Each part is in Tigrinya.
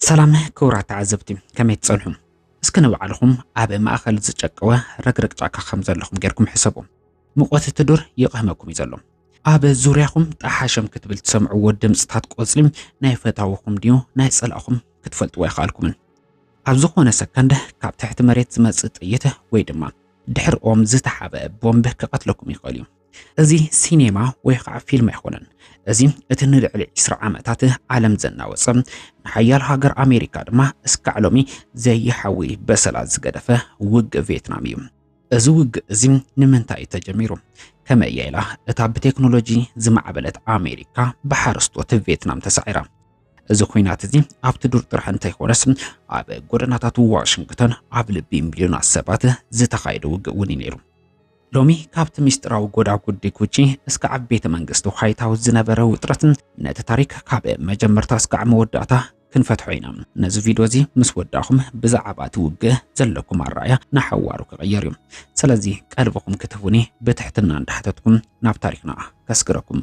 ሰላም ክቡራት ተዓዘብቲ ከመይ ትጸንሑ? እስከ ንባዕልኹም ኣብ ማእኸል ዝጨቀወ ረግረግ ጫካ ከም ዘለኹም ጌርኩም ሕሰቡ። ሙቐት እቲ ዱር ይቕህመኩም እዩ ዘሎ። ኣብ ዙርያኹም ጣሓሸም ክትብል ትሰምዕዎ ድምፅታት ቆፅሊ ናይ ፈታውኹም ድዩ ናይ ፀላእኹም ክትፈልጥዎ ኣይከኣልኩምን። ኣብ ዝኾነ ሰከንድ ካብ ትሕቲ መሬት ዝመፅእ ጥይት ወይ ድማ ድሕሪ ኦም ዝተሓበ ቦምብ ክቐትለኩም ይኽእል እዩ። እዚ ሲኔማ ወይ ከዓ ፊልም ኣይኮነን። እዚ እቲ ንልዕሊ ዕስራ ዓመታት ዓለም ዘናወፀ ንሓያል ሃገር ኣሜሪካ ድማ እስካዕ ሎሚ ዘይሓዊ በሰላ ዝገደፈ ውግእ ቬትናም እዩ። እዚ ውግእ እዚ ንምንታይ እዩ ተጀሚሩ? ከመይ እያ ኢላ እታ ብቴክኖሎጂ ዝማዕበለት ኣሜሪካ ብሓረስቶት ቬትናም ተሳዒራ? እዚ ኩናት እዚ ኣብቲ ዱር ጥራሕ እንተይኮነስ ኣብ ጎደናታት ዋሽንግተን ኣብ ልቢ ሚልዮናት ሰባት ዝተኻየደ ውግእ እውን እዩ ነይሩ። ሎሚ ካብቲ ሚስጥራዊ ጎዳጉዲ ጉቺ እስከ ኣብ ቤተ መንግስቲ ዋይት ሃውስ ዝነበረ ውጥረት ነቲ ታሪክ ካብ መጀመርታ እስካዕ መወዳእታ ክንፈትሖ ኢና። ነዚ ቪድዮ እዚ ምስ ወዳእኹም ብዛዕባ እቲ ውግእ ዘለኩም ኣረኣያ ንሓዋሩ ክቕየር እዩ። ስለዚ ቀልብኹም ክትህቡኒ ብትሕትና እንዳሕተትኩም ናብ ታሪክና ከስግረኩም።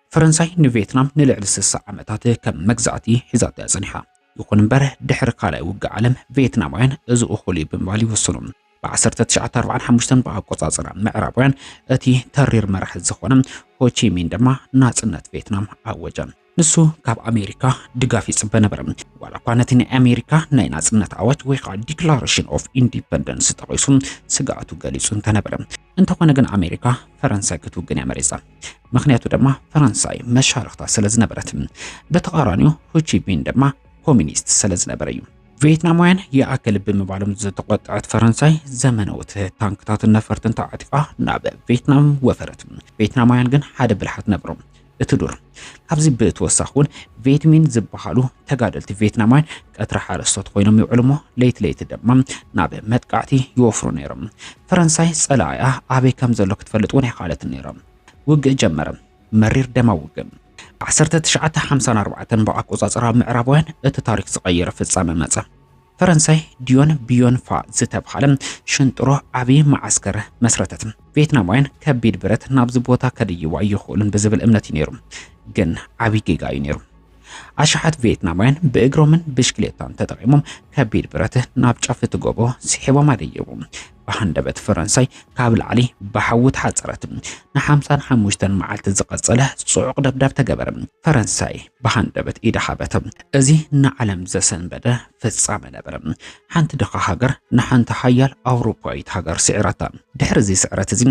ፈረንሳይ ንቬትናም ንልዕሊ ስሳ ዓመታት ከም መግዛእቲ ሒዛቶ እያ ጸኒሓ። ይኹን እምበር ድሕሪ ካልኣይ ውግእ ዓለም ቬትናማውያን እዚ እኹል እዩ ብምባል ይውስኑ። ብ1945 ብኣቆጻጽራ ምዕራባውያን እቲ ተሪር መራሒ ዝኾነ ሆቺሚን ድማ ናጽነት ቬትናም ኣወጀ። ንሱ ካብ ኣሜሪካ ድጋፍ ይጽበ ነበረ። ዋላ እኳ ነቲ ናይ ኣሜሪካ ናይ ናጽነት ኣዋጅ ወይ ከዓ ዲክላሬሽን ኦፍ ኢንዲፐንደንስ ጠቒሱ ስግኣቱ ገሊጹ እንተነበረ እንተኾነ ግን ኣሜሪካ ፈረንሳይ ክትውግን እያ መሪጻ። ምክንያቱ ድማ ፈረንሳይ መሻርኽታ ስለ ዝነበረት፣ ብተቓራኒኡ ሆቺሚን ድማ ኮሚኒስት ስለ ዝነበረ እዩ። ቪየትናማውያን ይኣክል ብምባሎም ዝተቆጠዐት ፈረንሳይ ዘመነውት ታንክታትን ነፈርትን ተዓጢቓ ናብ ቪየትናም ወፈረት። ቪየትናማውያን ግን ሓደ ብልሓት ነበሮም። እቲ ዱር። ካብዚ ብተወሳኺ እውን ቬትሚን ዝበሃሉ ተጋደልቲ ቬትናማውያን ቀትሪ ሓረስቶት ኮይኖም ይውዕሉ እሞ ለይቲ ለይቲ ድማ ናብ መጥቃዕቲ ይወፍሩ ነይሮም። ፈረንሳይ ጸላኢኣ ኣበይ ከም ዘሎ ክትፈልጥ እውን ኣይከኣለትን ነይራ። ውግእ ጀመረ፣ መሪር ደማዊ ውግእ። 1954 ብኣቆጻጽራ ምዕራባውያን እቲ ታሪኽ ዝቐየረ ፍጻመ መጸ። ፈረንሳይ ዲዮን ቢዮን ፋ ዝተብሃለ ሽንጥሮ ዓብዪ መዓስከር መስረተት። ቬትናማውያን ከቢድ ብረት ናብዚ ቦታ ከድይቡ ኣይኽእሉን ብዝብል እምነት እዩ ነይሩ። ግን ዓብዪ ጌጋ እዩ ነይሩ። ኣሽሓት ቪየትናማውያን ብእግሮምን ብሽክሌታን ተጠቒሞም ከቢድ ብረት ናብ ጫፍ እቲ ጎቦ ስሒቦም ኣደየቡ። ብሃንደበት ፈረንሳይ ካብ ላዕሊ ብሓዊ ተሓጸረት። ንሓምሳን ሓሙሽተን መዓልቲ ዝቐጸለ ጽዑቕ ደብዳብ ተገበረ። ፈረንሳይ ብሃንደበት ኢዳ ሃበተ። እዚ ንዓለም ዘሰንበደ ፍጻመ ነበረ። ሓንቲ ድኻ ሃገር ንሓንቲ ሓያል ኣውሮፓዊት ሃገር ስዒራታ። ድሕሪ እዚ ስዕረት እዚ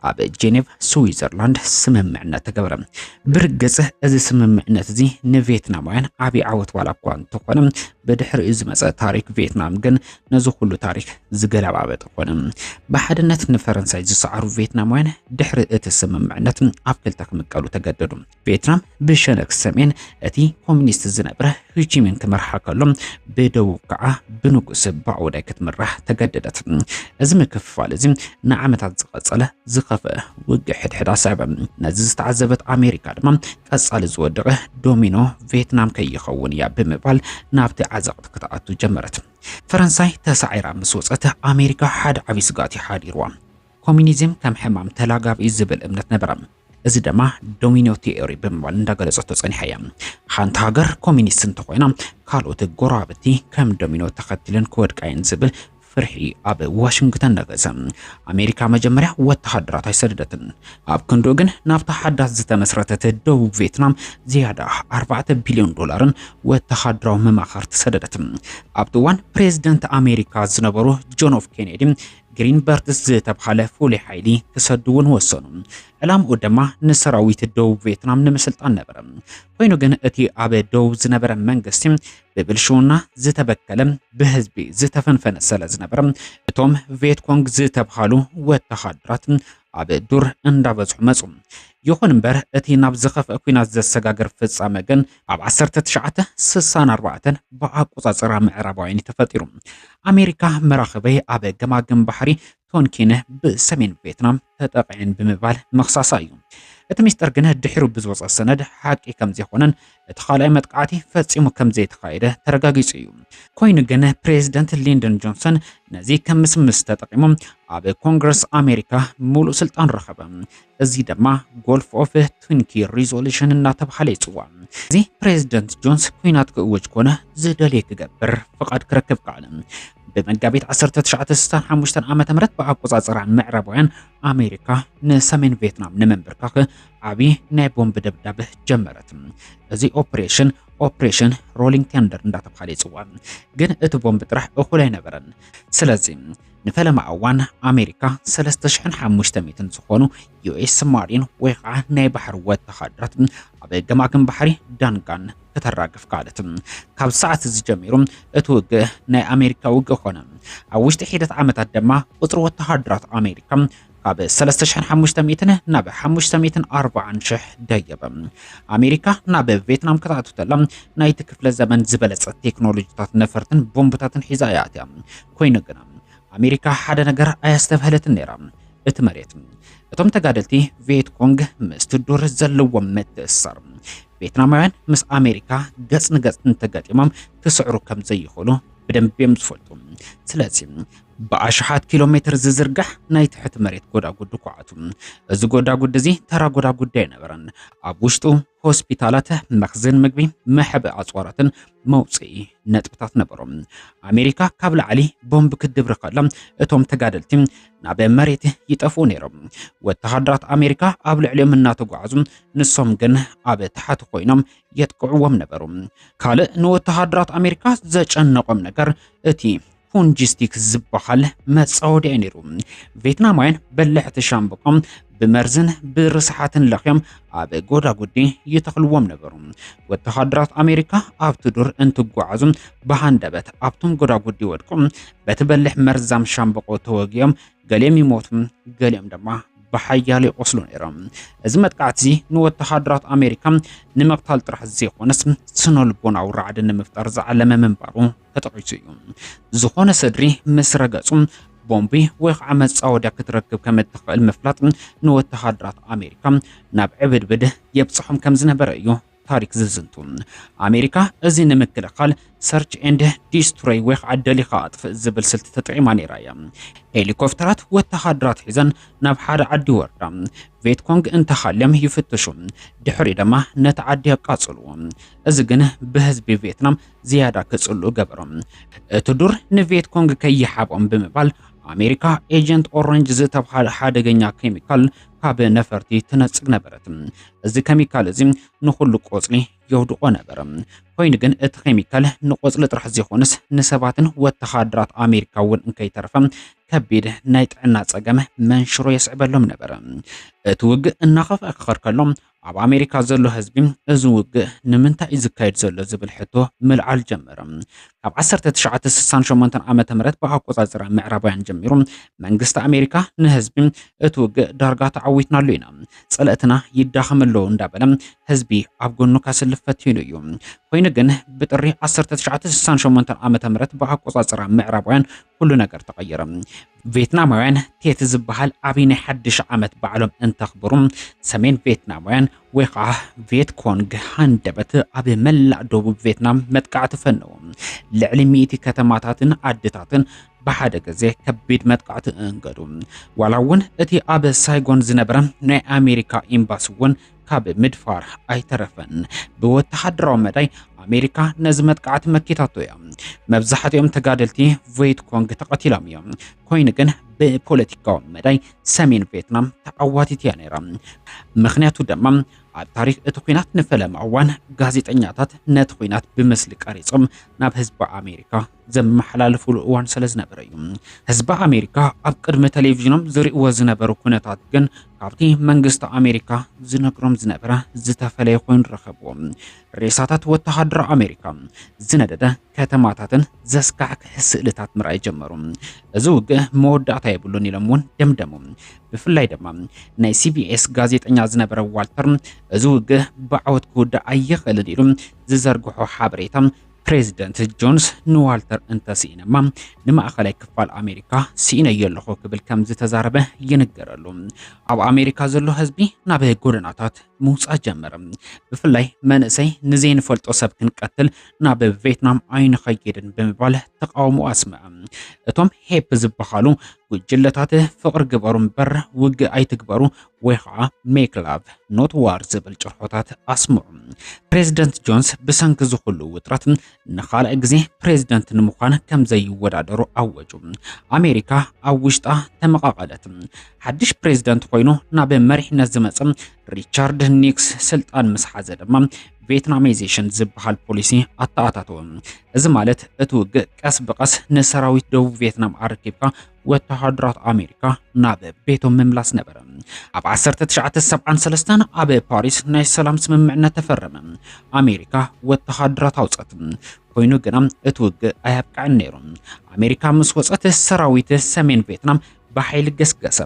ኣብ ጄኔቭ ስዊዘርላንድ ስምምዕነት ተገበረ። ብርግጽ እዚ ስምምዕነት እዚ ንቬትናማውያን ዓቢ ዓወት ዋላ እኳ እንተኾነ ብድሕሪኡ ዝመጸ ታሪክ ቬትናም ግን ነዚ ኩሉ ታሪክ ዝገለባበጠ ኮነ። ብሓድነት ንፈረንሳይ ዝሰዓሩ ቬትናማውያን ድሕሪ እቲ ስምምዕነት ኣብ ክልተ ክምቀሉ ተገደዱ። ቬትናም ብሸነክ ሰሜን እቲ ኮሚኒስት ዝነበረ ሂቺሚን ክመርሓ ከሎ፣ ብደቡብ ከዓ ብንጉስ ባኦዳይ ክትምራሕ ተገደደት። እዚ ምክፍፋል እዚ ንዓመታት ዝቐጸለ ዝኸፍአ ውግእ ሕድሕድ ኣስዐበ። ነዚ ዝተዓዘበት ኣሜሪካ ድማ ቀጻሊ ዝወደቐ ዶሚኖ ቬትናም ከይኸውን እያ ብምባል ናብቲ ዓዘቕቲ ክትኣቱ ጀመረት። ፈረንሳይ ተሳዒራ ምስ ወጸት ኣሜሪካ ሓደ ዓብዪ ስግኣት እዩ ሓዲርዋ። ኮሚኒዝም ከም ሕማም ተላጋቢ እዩ ዝብል እምነት ነበራ። እዚ ደማ ዶሚኖ ቲዮሪ ብምባል እንዳገለጸቶ ጸኒሓ እያ። ሓንቲ ሃገር ኮሚኒስት እንተኾይና ካልኦት ጎረባብቲ ከም ዶሚኖ ተኸቲለን ክወድቃ እየን ዝብል ፍርሒ ኣብ ዋሽንግተን ነገሰ። ኣሜሪካ መጀመርያ ወተሃደራት ኣይሰደደትን። ኣብ ክንድኡ ግን ናብታ ሓዳስ ዝተመስረተት ደቡብ ቬትናም ዝያዳ ኣርባዕተ ቢልዮን ዶላርን ወተሃደራዊ መማኸርቲ ሰደደት። ኣብቲ እዋን ፕሬዝደንት ኣሜሪካ ዝነበሩ ጆን ኦፍ ኬኔዲ ግሪንበርትስ ዝተብሃለ ፍሉይ ሓይሊ ክሰዱ እውን ወሰኑ። ዕላምኡ ድማ ንሰራዊት ደቡብ ቬትናም ንምስልጣን ነበረ። ኮይኑ ግን እቲ ኣብ ደቡብ ዝነበረ መንግስቲ ብብልሽውና ዝተበከለ ብህዝቢ ዝተፈንፈነ ሰለ ዝነበረ እቶም ቬትኮንግ ዝተብሃሉ ወተሃደራት ኣብ ዱር እንዳበዝሑ መጹ። ይኹን እምበር እቲ ናብ ዝኸፍአ ኩናት ዘሰጋግር ፍጻመ ግን ኣብ ዓሰርተ ትሽዓተ ስሳን ኣርባዕተን ብኣቆጻጽራ ምዕራባውያን እዩ ተፈጢሩ። ኣሜሪካ መራኽበይ ኣብ ገማግም ባሕሪ ቶንኪን ብሰሜን ቬትናም ተጠቒዐን ብምባል ምኽሳሳ እዩ። እቲ ሚስጥር ግን ድሒሩ ብዝወጸ ሰነድ ሓቂ ከምዘይኮነን እቲ ካልኣይ መጥቃዕቲ ፈጺሙ ከምዘይተኻየደ ተረጋጊጹ እዩ። ኮይኑ ግን ፕሬዝደንት ሊንደን ጆንሰን ነዚ ከም ምስምስ ተጠቒሙ ኣብ ኮንግረስ ኣሜሪካ ሙሉእ ስልጣን ረኸበ። እዚ ድማ ጎልፍ ኦፍ ቱንኪ ሪዞሉሽን እናተብሃለ ይጽዋዕ። እዚ ፕሬዝደንት ጆንስ ኩናት ክእውጅ ኮነ ዝደልየ ክገብር ፍቓድ ክረክብ ከኣለ። ብመጋቢት 1965 ዓ ም ብኣቆፃፅራ ምዕራባውያን ኣሜሪካ ንሰሜን ቪየትናም ንምንብርካኽ ዓብዪ ናይ ቦምቢ ደብዳብ ጀመረት። እዚ ኦፕሬሽን ኦፕሬሽን ሮሊንግ ቴንደር እንዳተባሃለ ይፅዋዕ። ግን እቲ ቦምቢ ጥራሕ እኹል ኣይነበረን። ስለዚ ንፈለማ እዋን ኣሜሪካ 3500 ዝኾኑ ዩኤስ ማሪን ወይ ከዓ ናይ ባሕሪ ወተሃደራት ኣብ ገማግም ባሕሪ ዳንጋን ከተራግፍ ከኣለት። ካብ ሰዓት እዚ ጀሚሩ እቲ ውግእ ናይ ኣሜሪካ ውግእ ኮነ። ኣብ ውሽጢ ሒደት ዓመታት ድማ ቁፅሪ ወተሃደራት ኣሜሪካ ካብ 3500 ናብ 540,000 ደየበ። ኣሜሪካ ናብ ቬትናም ክትኣቱ ተላ ናይቲ ክፍለ ዘመን ዝበለጸ ቴክኖሎጂታት ነፈርትን ቦምብታትን ሒዛ እያ ኣትያ። ኮይኑ ግና ኣሜሪካ ሓደ ነገር ኣያስተብሃለትን ነይራ፣ እቲ መሬት። እቶም ተጋደልቲ ቪየት ኮንግ ምስቲ ዱር ዘለዎም ምትእስሳር ቬትናማውያን ምስ ኣሜሪካ ገጽ ንገጽ እንተገጢሞም ክስዕሩ ከም ዘይኽእሉ ብደንቢ እዮም ዝፈልጡ። ስለዚ ብኣሽሓት ኪሎ ሜትር ዝዝርጋሕ ናይ ትሕቲ መሬት ጎዳጉዲ ኳዓቱ። እዚ ጎዳጉዲ እዚ ተራ ጎዳጉዲ ኣይነበረን። ኣብ ውሽጡ ሆስፒታላት፣ መኽዝን ምግቢ፣ መሕብኢ ኣጽዋራትን መውጽኢ ነጥብታት ነበሩ። ኣሜሪካ ካብ ላዕሊ ቦምብ ክትድብሪ ከላ እቶም ተጋደልቲ ናብ መሬት ይጠፍኡ ነይሮም። ወተሃደራት ኣሜሪካ ኣብ ልዕሊኦም እናተጓዓዙ ንሶም ግን ኣብ ታሕቲ ኮይኖም የጥቅዕዎም ነበሩ። ካልእ ንወተሃደራት ኣሜሪካ ዘጨነቖም ነገር እቲ ፑንጂስቲክ ዝበሃል መጻወድያ እዩ ነይሩ። ቬትናማውያን በላሕቲ ሻምብቆ ብመርዝን ብርስሓትን ለኽዮም ኣብ ጎዳጉዲ ይተኽልዎም ነበሩ። ወተሃደራት ኣሜሪካ ኣብቲ ዱር እንትጓዓዙ ብሃንደበት ኣብቶም ጎዳጉዲ ወድቁ በቲ በልሕ መርዛም ሻምብቆ ተወጊኦም ገሊኦም ይሞቱ፣ ገሊኦም ድማ ብሓያል ይቆስሉ ነይሮም። እዚ መጥቃዕቲ እዚ ንወተሃደራት ኣሜሪካ ንምቕታል ጥራሕ ዘይኮነስ ስነልቦናዊ ራዕዲ ንምፍጣር ዝዓለመ ምንባሩ ተጠቒሱ እዩ። ዝኾነ ሰድሪ ምስ ረገጹ ቦምቢ ወይ ከዓ መጻወድያ ክትረክብ ከም እትኽእል ምፍላጥ ንወተሃደራት ኣሜሪካ ናብ ዕብድብድ የብጽሖም ከም ዝነበረ እዩ ታሪክ ዝዝንቱ። ኣሜሪካ እዚ ንምክልኻል ሰርች ኤንድ ዲስትሮይ ወይ ከዓ ደሊኻ ኣጥፍእ ዝብል ስልቲ ተጠቂማ ነይራ እያ። ሄሊኮፕተራት ወተሃደራት ሒዘን ናብ ሓደ ዓዲ ይወርዳ፣ ቬትኮንግ እንተሃልዮም ይፍትሹ፣ ድሕሪኡ ድማ ነቲ ዓዲ የቃጽልዎ። እዚ ግን ብህዝቢ ቬትናም ዝያዳ ክጽሉ ገበሮም። እቲ ዱር ንቬት ኮንግ ከይሓቦም ብምባል ኣሜሪካ ኤጀንት ኦረንጅ ዝተብሃለ ሓደገኛ ኬሚካል ካብ ነፈርቲ ትነጽግ ነበረት። እዚ ኬሚካል እዚ ንኹሉ ቆጽሊ የውድቆ ነበረ። ኮይኑ ግን እቲ ኬሚካል ንቆጽሊ ጥራሕ ዘይኮነስ ንሰባትን ወተሃደራት ኣሜሪካ እውን እንከይተረፈ ከቢድ ናይ ጥዕና ጸገም መንሽሮ የስዕበሎም ነበረ። እቲ ውግእ እናኸፍኣ ክኸር ከሎ ኣብ ኣሜሪካ ዘሎ ህዝቢ እዚ ውግእ ንምንታይ እዩ ዝካየድ ዘሎ ዝብል ሕቶ ምልዓል ጀመረ። ካብ ዓሰርተ ትሽዓተ ስሳን ሸሞንተን ዓመተ ምህረት ብኣቆጻጽራ ምዕራባውያን ጀሚሩ መንግስቲ ኣሜሪካ ንህዝቢ እቲ ውግእ ዳርጋ ተዓዊትናሉ ኢና፣ ጸለእትና ይዳኸም ኣሎ እንዳበለ ህዝቢ ኣብ ጎኑ ከስልፍ ፈቲኑ እዩ። ኮይኑ ግን ብጥሪ ዓሰርተ ትሽዓተ ስሳን ሸሞንተን ዓመተ ምህረት ብኣቆጻጽራ ምዕራባውያን ኩሉ ነገር ተቐየረ። ቬትናማውያን ቴት ዝበሃል ዓብዪ ናይ ሓድሽ ዓመት በዓሎም እንተኽብሩ፣ ሰሜን ቬትናማውያን ወይ ከዓ ቬት ኮንግ ሃንደበት ኣብ መላእ ደቡብ ቬትናም መጥቃዕቲ ፈነዉ። ልዕሊ ሚእቲ ከተማታትን ዓድታትን ብሓደ ግዜ ከቢድ መጥቃዕቲ እንገዱ። ዋላ እውን እቲ ኣብ ሳይጎን ዝነበረ ናይ ኣሜሪካ ኤምባሲ እውን ካብ ምድፋር ኣይተረፈን። ብወተሃደራዊ መዳይ ኣሜሪካ ነዚ መጥቃዕቲ መኪታቶ እያ። መብዛሕትኦም ተጋደልቲ ቬት ኮንግ ተቐቲሎም እዮም። ኮይኑ ግን ብፖለቲካዊ መዳይ ሰሜን ቬትናም ተዓዋቲት እያ ነይራ። ምክንያቱ ድማ ኣብ ታሪክ እቲ ኩናት ንፈለማ እዋን ጋዜጠኛታት ነቲ ኩናት ብምስሊ ቀሪጾም ናብ ህዝቢ ኣሜሪካ ዘመሓላልፉሉ እዋን ስለ ዝነበረ እዩ። ህዝቢ ኣሜሪካ ኣብ ቅድሚ ቴሌቪዥኖም ዝርእይዎ ዝነበሩ ኩነታት ግን ካብቲ መንግስቲ ኣሜሪካ ዝነግሮም ዝነበረ ዝተፈለየ ኮይኑ ረኸብዎ። ሬሳታት ወተሃደር ኣሜሪካ፣ ዝነደደ ከተማታትን ዘስካሕክሕ ስእልታት ምርኣይ ጀመሩ። እዚ ውግእ መወዳእታ የብሉን ኢሎም እውን ደምደሙ። ብፍላይ ድማ ናይ ሲቢኤስ ጋዜጠኛ ዝነበረ ዋልተር እዚ ውግእ ብዓወት ክውዳእ ኣይኽእልን ኢሉ ዝዘርግሖ ሓበሬታ ፕሬዚደንት ጆንስ ንዋልተር እንተስኢነማ ንማእኸላይ ክፋል ኣሜሪካ ስኢነዮ ኣለኹ ክብል ከም ዝተዛረበ ይንገረሉ። ኣብ ኣሜሪካ ዘሎ ህዝቢ ናብ ጎደናታት ምውፃእ ጀመረ። ብፍላይ መንእሰይ ንዘይንፈልጦ ሰብ ክንቀትል ናብ ቬትናም ኣይንኸይድን ብምባል ተቃውሞ ኣስምዐ። እቶም ሄፕ ዝበሃሉ ጉጅለታት ፍቕሪ ግበሩ እምበር ውግእ ኣይትግበሩ ወይ ኸዓ ሜክ ላቭ ኖት ዋር ዝብል ጭርሖታት ኣስምዑ። ፕሬዝደንት ጆንስ ብሰንኪ እዚ ኹሉ ውጥረት ንኻልኣይ ግዜ ፕሬዝደንት ንምዃን ከም ዘይወዳደሩ ኣወጁ። ኣሜሪካ ኣብ ውሽጣ ተመቓቐለት። ሓድሽ ፕሬዝደንት ኾይኑ ናብ መሪሕነት ዝመፀ ሪቻርድ ኒክስ ስልጣን ምስ ሓዘ ድማ ቬትናማይዜሽን ዝበሃል ፖሊሲ ኣተኣታተወ። እዚ ማለት እቲ ውግእ ቀስ ብቀስ ንሰራዊት ደቡብ ቬትናም ኣረኪብካ ወተሃደራት ኣሜሪካ ናብ ቤቶም ምምላስ ነበረ ኣብ 1973 ኣብ ፓሪስ ናይ ሰላም ስምምዕነት ተፈረመ ኣሜሪካ ወተሃደራት ኣውፀት ኮይኑ ግና እቲ ውግእ ኣያብቅዕን ነይሩ ኣሜሪካ ምስ ወፀት ሰራዊት ሰሜን ቬትናም ብሓይሊ ገስገሰ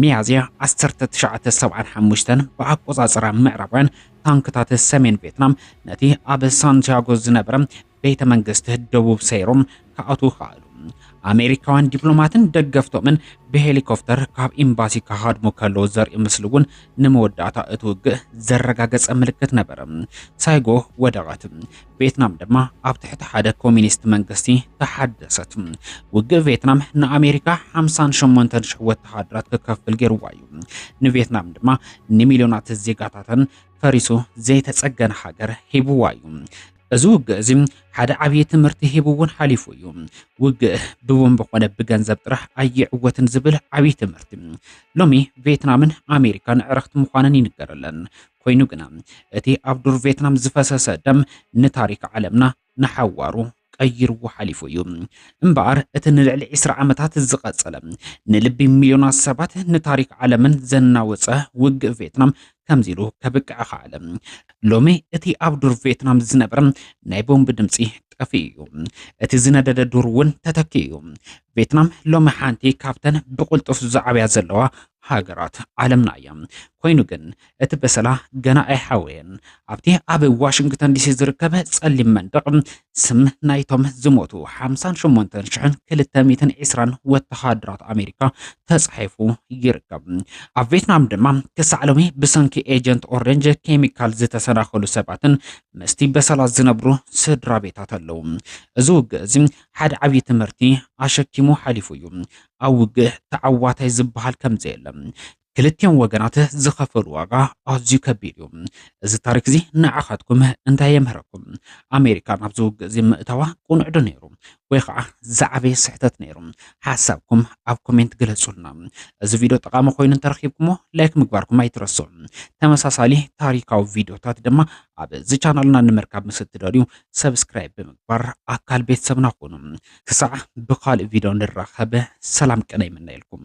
ሚያዝያ 1975 ብኣቆፃፅራ ምዕራባውያን ታንክታት ሰሜን ቬትናም ነቲ ኣብ ሳንቲያጎ ዝነበረ ቤተ መንግስቲ ደቡብ ሰይሮም ክኣትዉ ከኣሉ። ኣሜሪካውያን ዲፕሎማትን ደገፍቶምን ብሄሊኮፍተር ካብ ኤምባሲ ክሃድሙ ከለዉ ዘርኢ ምስሊ እውን ንመወዳእታ እቲ ውግእ ዘረጋገጸ ምልክት ነበረ። ሳይጎ ወደቐት፣ ቬትናም ድማ ኣብ ትሕቲ ሓደ ኮሚኒስት መንግስቲ ተሓደሰት። ውግእ ቬትናም ንኣሜሪካ 58,000 ወተሃደራት ክከፍል ገይርዋ እዩ። ንቬትናም ድማ ንሚልዮናት ዜጋታተን ፈሪሱ ዘይተጸገነ ሃገር ሂብዋ እዩ። እዚ ውግእ እዚ ሓደ ዓብዪ ትምህርቲ ሂቡ እውን ሓሊፉ እዩ። ውግእ ብቦምብ ኮነ ብገንዘብ ጥራሕ ኣይዕወትን ዝብል ዓብዪ ትምህርቲ። ሎሚ ቬትናምን ኣሜሪካን ዕርኽቲ ምዃነን ይንገረለን። ኮይኑ ግና እቲ ኣብ ዱር ቬትናም ዝፈሰሰ ደም ንታሪክ ዓለምና ንሓዋሩ ቀይርዎ ሓሊፉ እዩ እምበኣር እቲ ንልዕሊ ዕስራ ዓመታት ዝቐጸለ ንልቢ ሚልዮናት ሰባት ንታሪክ ዓለምን ዘናወጸ ውግእ ቬትናም ከምዚ ኢሉ ከብቅዕ ከኣለ። ሎሚ እቲ ኣብ ዱር ቬትናም ዝነበረ ናይ ቦምብ ድምጺ ጠፊኡ እዩ። እቲ ዝነደደ ዱር እውን ተተኪኡ እዩ። ቬትናም ሎሚ ሓንቲ ካብተን ብቕልጡፍ ዝዓብያ ዘለዋ ሃገራት ዓለምና እያ። ኮይኑ ግን እቲ በሰላ ገና ኣይሓወየን። ኣብቲ ኣብ ዋሽንግተን ዲሲ ዝርከብ ጸሊም መንደቕ ስም ናይቶም ዝሞቱ ሓምሳን ሸሞንተን ሽሕን ክልተ ሚእትን ዒስራን ወተሃደራት ኣሜሪካ ተጻሒፉ ይርከብ። ኣብ ቬትናም ድማ ክሳዕ ሎሚ ብሰንኪ ኤጀንት ኦረንጅ ኬሚካል ዝተሰናኸሉ ሰባትን ምስቲ በሰላ ዝነብሩ ስድራ ቤታት ኣለዉ። እዚ ውግእ እዚ ሓደ ዓብዪ ትምህርቲ ኣሸኪሙ ሓሊፉ እዩ። ኣብ ውግእ ተዓዋታይ ዝበሃል ከምዘየለ ክልቲኦም ወገናት ዝኸፈሉ ዋጋ ኣዝዩ ከቢድ እዩ። እዚ ታሪክ እዚ ንዓኻትኩም እንታይ የምህረኩም? ኣሜሪካ ናብዚ ውግእ እዚ ምእታዋ ቁኑዕ ዶ ነይሩ ወይ ኸዓ ዝዓበየ ስሕተት ነይሩ? ሓሳብኩም ኣብ ኮሜንት ግለፁልና። እዚ ቪድዮ ጠቓሚ ኮይኑ እንተረኺብኩምዎ ላይክ ምግባርኩም ኣይትረስዑ። ተመሳሳሊ ታሪካዊ ቪድዮታት ድማ ኣብዚ ቻናልና ንምርካብ ምስ እትደልዩ ሰብስክራይብ ብምግባር ኣካል ቤተሰብና ኩኑ። ክሳዕ ብኻልእ ቪድዮ ንራኸብ ሰላም ቅነ ይምነየልኩም።